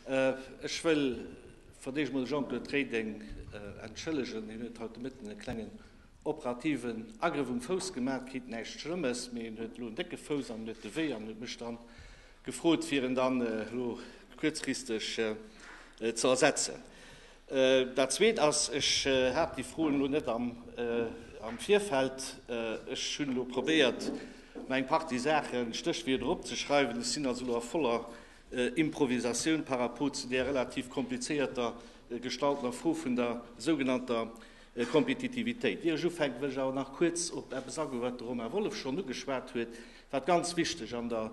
Ech wëll fir d'éischt emol de Jean-Claude Reding entschëllegen. Hien huet haut de Mëtten e klengen operativen Agrëff um Fouss gemaach kritt. Näischt Schlëmmes, mee hien huet elo en décke Fouss an en huet de Wéi an huet mech dann gefrot, fir en dann elo kuerzfristeg ze ersetzen. Dat Zweet ass, ech hat déi Froen elo net am Virfeld. Ech hunn elo probéiert, mer eng Partie Saachen, Stéchwierder eropzeschreiwen. Ech sinn also elo a voller Improvisatioun par rapport zu där relativ komplizéierter gestaltener Fro vun der sougenannter Kompetitivitéit. Ier ech ufänken, wëll ech awer nach kuerz op eppes agoen, wat de Romain Wolff schonn ugeschwat huet, wat ganz wichteg an der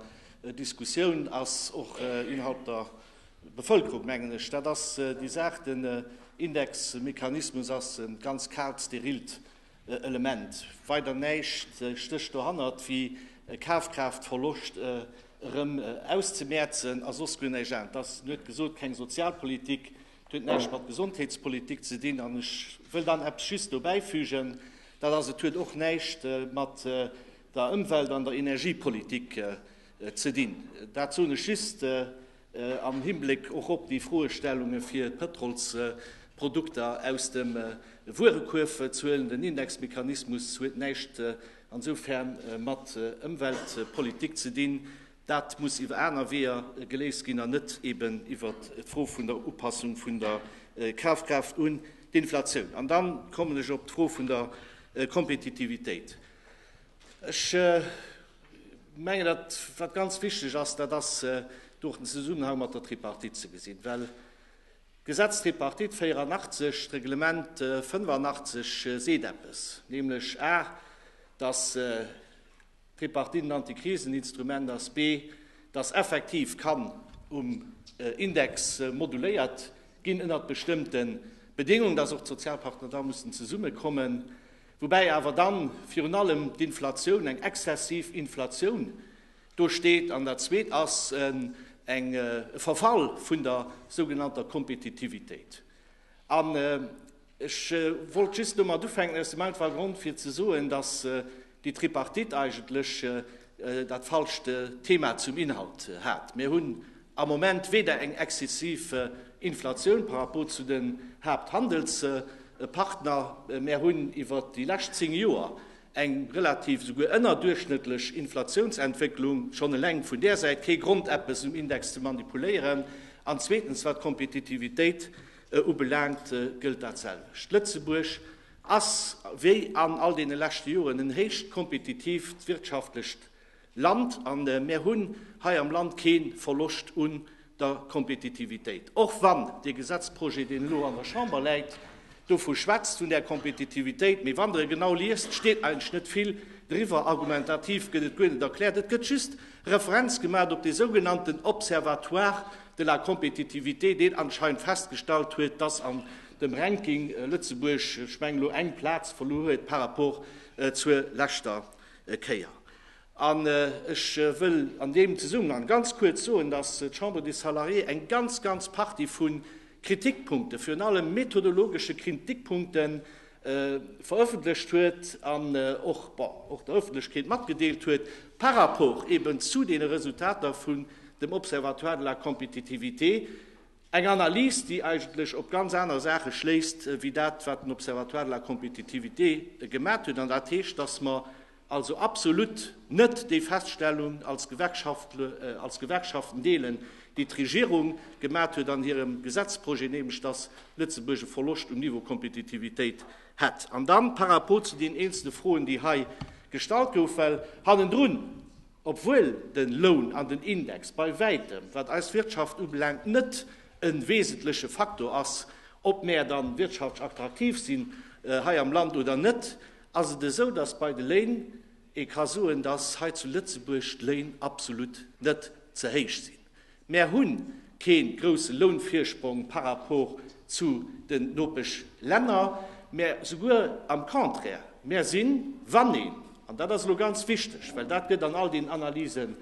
Diskussioun ass, och innerhalb der Bevëlkerung, mengen ech, dat ass déi Saach. Den Indexmechanismus ass e ganz kaalt, sterilt Element. Weider näischt stécht dohannert wéi e Kafkraaftverloscht erëm auszemäerzen a soss guer näischt aner. Dat ass, huet gesot, keng Sozialpolitik, dat huet näischt mat Gesondheetspolitik ze dinn. An ech wëll dann eppes just dobäifügen, dat ass, et huet och näischt mat der Ëmwelt an der Energiepolitik Ze dinn. Dat soen ech just am Hinbléck och op déi Froestellunge fir d'Pëtrolsprodukter aus dem Wuerekuerf ze huelen. Den Indexmechanismus huet näischt insofern mat Ëmweltpolitik ze dinn. Dat muss iwwer aner Weeër geléist ginn an net eben iwwer d'Fro vun der Upassung vun der Kafkraaft un d'Inflatioun. An da kommen ech op d'Fro vun der Kompetitivitéit. Ech mengen, datt wat ganz wichteg ass, dat ass do den Zesummenhang mat der Tripartite ze gesinn, well d'Gesetz Tripartite 84, d'Reglement 85 seet eppes, nämlech a datt d'Tripartite en Antikriseninstrument ass, b datt effektiv kann um Index moduléiert ginn ënnert bestëmmte Bedéngungen, datt och d'Sozialpartner da mussen zesummekommen. Woubäi awer dann virun allem d'Inflatioun, eng exzessiv Inflatioun do steet, an dat zweet ass eng, e Verfall vun der sougenannter Kompetitivitéit. An ech wollt just domat ufänken aus dem einfache Grond fir ze soen, dass déi Tripartite eigentlech dat falscht Thema zum Inhalt hat. Mir hunn am Moment weder eng exzessiv Inflatioun par rapport zu den Haapthandelspartner, mir hunn iwwert déi lescht zéng Joer eng relativ, souguer ënnerduerchschnëttlech Inflatiounsentwécklung, schonn eleng vun där Säit kee Grond eppes um Index ze manipuléieren, an zweetens wat d'Kompetitivitéit ubelaangt gëllt dat selwecht. Lëtzebuerg. ass wéi an all deene leschte Joren en héicht kompetitiivt wirtschaftlecht Land a mär hunn hei am Land kee Verloscht un der Kompetitivitéit. Och wann dee Gesetzprojet, deen elo an der Chamber läit, dovu schwätzt, vun där Kompetitivitéit, mee wann Der e genau liest, steet eigentlech net vill driwwer. Argumentativ gëtt et guer net erkläert. Et gëtt just Referenz gemaat op dee sougenannten Observatoire de la compétitivité, deen anscheinend festgestallt huet, dass an dem Ranking Lëtzebuerg, ech mengen, elo eng Plaz verluer huet par rapport zur leschter Kéier. An ech wëll an deem Zesummenhang ganz kuerz soen, dass d'Chambre des Salariés eng ganz, ganz Partie vu Kritikpunkten, virun allem methodologesche Kritikpunkten, veröffentlecht huet an och, bon, och der Öffentlechkeet matgedeelt huet par rapport eben zu deene Resultater vun dem Observatoire de la compétitivité, Eng Analys, déi eigentlech op ganz aner Saache schléisst wéi dat, wat den Observatoire de la compétitivité gemat huet. An dat heescht, dass mer also absolut net déi Feststellung als Gewerkschaften deelen, déi d'Regierung gemat huet an hirem Gesetzprojet, nämlech dass Lëtzebuerg e Verloscht um Niveau Compétitivitéit hätt. An dann par rapport zu deenen eenzelne Froen, déi hei gestallt goufen, well hannendrun, Obwuel den Loun an den Index bei wäitem, wat eis Wirtschaft ubelaangt, net en wesentleche Faktor ass, ob mäer dann wirtschaftsch attraktiv sinn hei am Land oder net, ass et esou, dass bei de Léin ee ka soen, dass hei zu Lëtzebuerg d'Léin absolut net ze héich sinn. Mär hunn keen groussen Lounvirsprong par rapport zu den Nopeschlänner, mä souguer am Contraire, mär sinn, wann een, an dat ass elo ganz wichteg, well dat gëtt an all den Analysen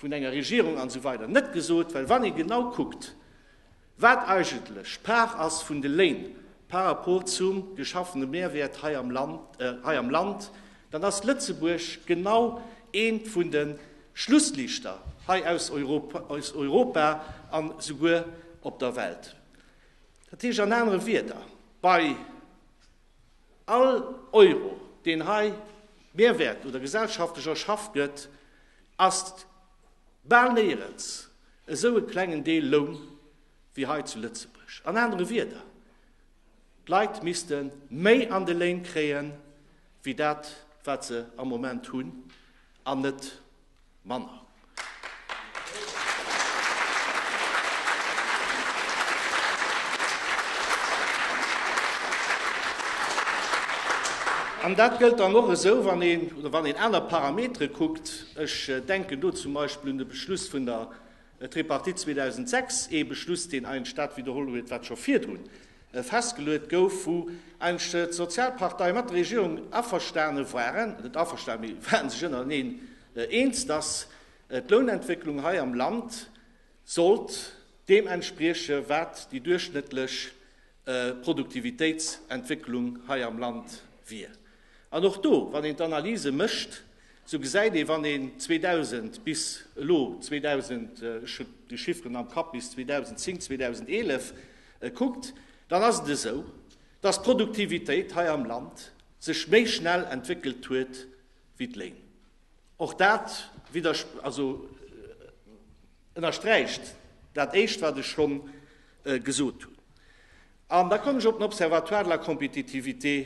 vun enger Regierung an esou weider net gesot, well wann ee genau kuckt, Wat eigentlech d'Part ass vun de Léin par rapport zum geschaffene Mehrwert hei am Land, hei am Land, dann ass Lëtzebuerg genau eent vun de Schlusslichter hei aus Europa, aus Europa an esouguer op der Welt. Dat heescht an anere Wierder, bei all Euro, deen hei Mehrwert oder gesellschaftlech erschafft gëtt, ass Bal néierens esou e klengen Deel Loun wéi hei zu Lëtzebuerg. An anere Wieder, d'Leit misste méi an de Léin kréien, wéi dat wat se am Moment hunn, an net manner. An dat gëllt dann och esou, wann een aner Parametere kuckt, Ech denken do zum Beispill un de Beschluss vun der Tripartite 2006, ee Beschluss, deen eigentlech dat widderholl huet, wat scho virdru festgeluet gouf, wou eigentlech d'Sozialparteie mat der Regierung averstane waren, net averstane, mee ware sech ënnereneen eens, dass d'Lounentwécklung hei am Land sollt deem entsprieche wat déi duerchschnëttlech Produktivitéitsentwécklung hei am Land wier. An och do, wann een d'Analyse mécht, esou gesäit ee, wann een 2000 bis elo, 2000, ech hu déi Chifferen am Kapp, bis 2010, 2011 kuckt, dann ass et esou, dass d'Produktivitéit hei am Land sech méi schnell entwéckelt huet wéi d'Léin. Och dat ënnersträicht dat Éischt, wat ech schonn gesot hunn. An da kommen ech op den Observatoire de la compétitivité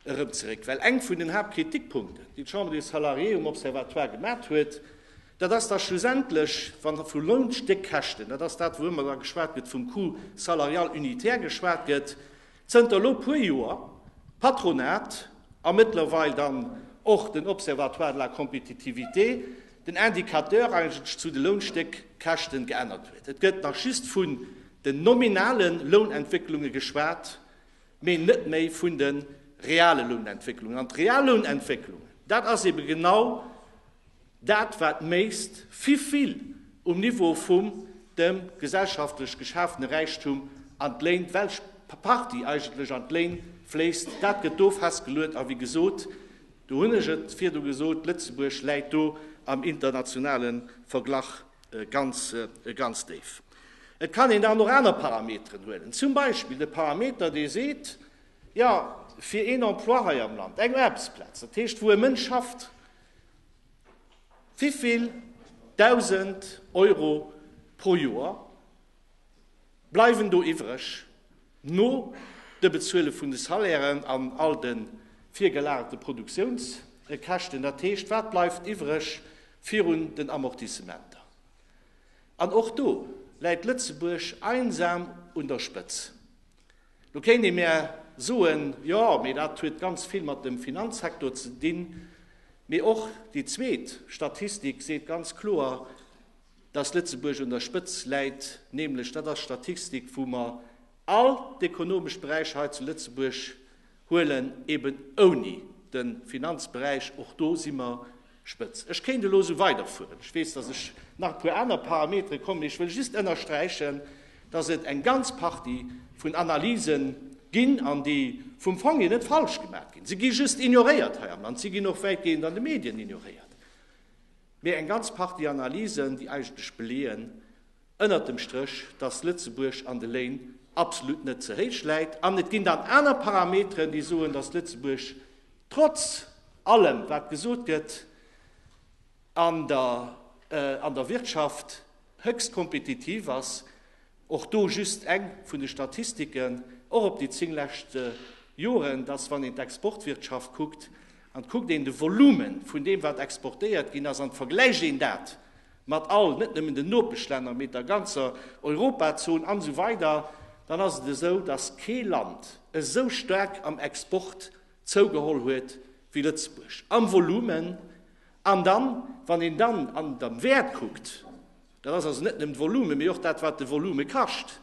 erëm zeréck, well eng vun den Haaptkritikpunkten, déi d'Chambre des Salariés um Observatoire gemat huet, dat ass, dass schlussendlech, wann e vu Lounstéckkäschten, dat ass dat, wou ëmmer da geschwat gëtt, vum Coût salarial unitaire geschwat gëtt, Zënter elo puer Joer d'Patronat a mëttlerweil dann och den Observatoire de la compétitivité den Indicateur eigentlech zu de Lounstéckkäschten geännert huet. Et gëtt nach just vun den nominale Lounentwécklunge geschwat, mee net méi vun de reale Lounentwécklungen. An d'real Lounentwécklungen, dat ass eebe genau Dat war d'Méist vivill um Niveau vum dem gesellschaftlech geschafene Räichtum an d'Léin, d'welch Partie eigentlech an d'Léin fléisst, dat gëtt do festgeluet. A wéi gesot, do hunn ech et virdu gesot, Lëtzebuerg läit do am internationale Verglach ganz, ganz déif. Et kann een dann och aner Parameteren huelen, zum Beispill de Parameter, dee seet, jo, fir een Emploi hei am Land, eng Aarbechtsplaz, dat heescht, wou e Mënsch schafft, Wivill Dausend Euro pro Joer bleiwen do iwwreg no de Bezuele vun de Salairen an all de virgelagerte Produktiounskäschten? Dat heescht, wat bleift iwwreg virun den Amortissementer? An och do läit Lëtzebuerg einsam un der Spëtz. Lo kéint ee mär soen, jo, mee dat huet ganz vill mat dem Finanzsektor ze dinn. Mee och déi zweet Statistik seet ganz kloer, dass Lëtzebuerg un der Spëtz läit, nämlech dat ass d'Statistik, wou mer all d'ekonomesch Beräicher hei zu Lëtzebuerg Huelen, eben ouni de Finanzberäich. Och do si mer spëtz. Ech kéint elo esou weiderfueren. Ech weess, dass ech nach e puer aner Parametere kommen, mee ech wëll just ënnersträichen, dass et eng ganz Partie vun Analysen ginn, an déi vum Fong hier net falsch gemaach ginn. Se gi just ignoréiert hei am Land. Se ginn och wäitgehend an de Medien ignoréiert. Mee eng ganz Partie Analysen, déi eigentlech beleeën, ënnert dem Stréch, dass Lëtzebuerg an de Léin absolut net ze héich läit. An et ginn dann aner Parameteren, déi soen, dass Lëtzebuerg trotz allem, wat gesot gëtt, an der Wirtschaft héchst kompetitiv ass. Och do just eng vun de Statistiken, och op déi zéng lescht Joren, dass, wann een d'Exportwirtschaft kuckt an kuckt een de Volume vun deem, wat exportéiert ginn ass, an vergläicht een dat mat all, net nëmmen den Nopeschlänner, mee der ganzer Europazon an esou weider, dann ass et esou, dass kee Land esou staark am Export zougeholl huet wéi Lëtzebuerg, am Volumen. An dann, wann een dann an am Wäert kuckt, dat ass also net nëmmen d'Volume, mee och dat, wat de Volume kascht,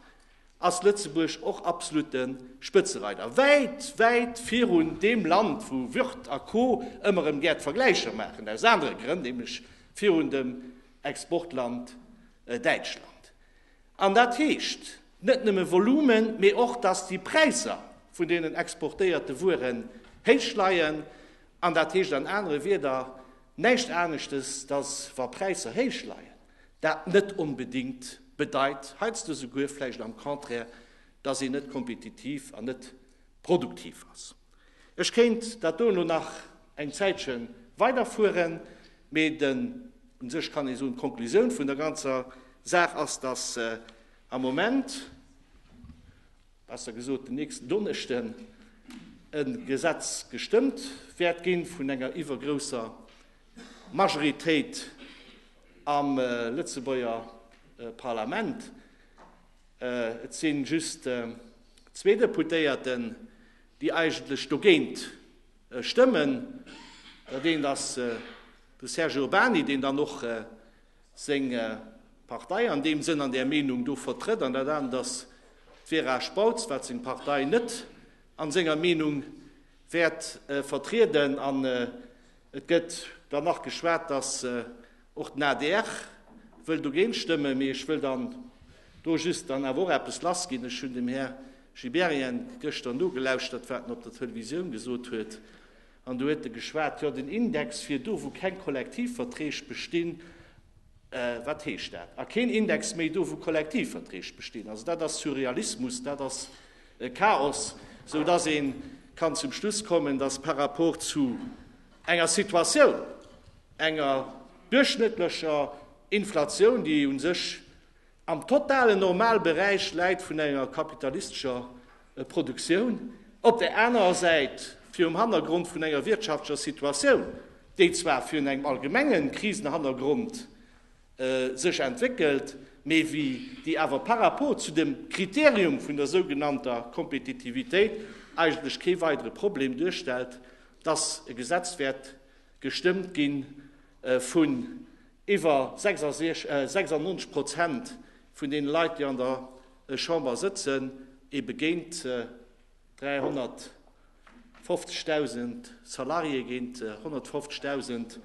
ass Lëtzebuerg och absolutte Spëtzereider, wäit, wäit virun deem Land, wou Würth a Co ëmmer erëm gär d'Vergläicher maachen, aus anere Grënn, nämlech virun dem Exportland Däitschland. An dat heescht net nëmme Volumen, mee och, dass déi Präisser vun deenen exportéierte Wueren héich leien. An dat heescht an anere Wieder näischt aneschtes, dass wa Präisser héich leien, Dat net onbedéngt bedeit, heiansdo souguer vläicht am Contraire, dass een net kompetitiv an net produktiv ass. Ech kéint dat do elo nach eng Zäitche weiderfueren, mee den, u sech kann ee soen, d'Konklusioun vun der ganzer Saach ass, dass am Moment, besser gesot den nächsten Donneschden, e Gesetz gestëmmt wäert gi vun enger iwwergrousser D'Majoritéit am Lëtzebuerger Parlament, et si just zwee Deputéierten, déi eigentlech dogéint stëmmen. Dat eent ass de Serge Urbany, deen dann och seng Partei an deem Sënn an där Meenung do vertrëtt, an dat anert ass d'Vera Spautz, wat seng Partei net a senger Meenung wäert vertrieden. An Et gëtt dann nach geschwat, dass och den adr wëll dogéint stëmmen. Mee ech wëll dann do just dann awer och eppes lassginn. Ech hunn dem Här Gibéryen gëschter nogelauschtert, wat en op der Televisioun gesot huet. An do huet e geschwat, Jo, den Index wier do, wou keng Kollektivverträg bestinn. Wat heescht dat? A keen Index méi do, wou Kollektivverträg bestinn? Also dat ass Surrealismus. Dat ass E Chaos, sou dass ee kann zum Schluss kommen, dass par rapport zu enger Situatioun, enger duerchschnëttlecher Inflatioun, déi u sech am totalen Normalberäich läit vun enger kapitalistescher Produktioun, op där anerer Säit virum Hannergrond vun enger wirtschaftlecher Situatioun, déi zwar virun engem allgemenge Krisenhannergrond sech entwéckelt, mee wéi déi awer par rapport zu dem Kriterium vun der sougenannter Kompetitivitéit eigentlech kee weidere Problem duerstellt, dass e Gesetz wäert gestëmmt gi vun iwwer 96 Prozent vun deene Leit, déi an der Chamber sëtzen, ebe géint 350.000 Salariéë, géint 150.000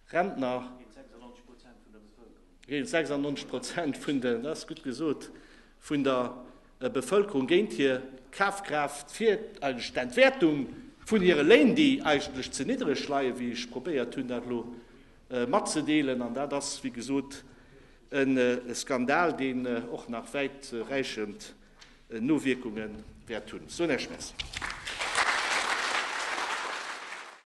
Rentner, géint 96 Prozent vun der Bevëlkerung, géint 96 Prozent vun de, dat ass gutt gesot, vun der Bevëlkerung, géint hir Kafkraaft, fir eigentlech d'Entwäertung vun hire Léin, déi eigentlech ze niddreg leien, wéi ech probéiert hunn dat elo matzedeelen. An dat ass, wéi gesot, e Skandal, deen och nach wäit räichend Nowierkunge wäert hunn. Ech soen Iech Merci.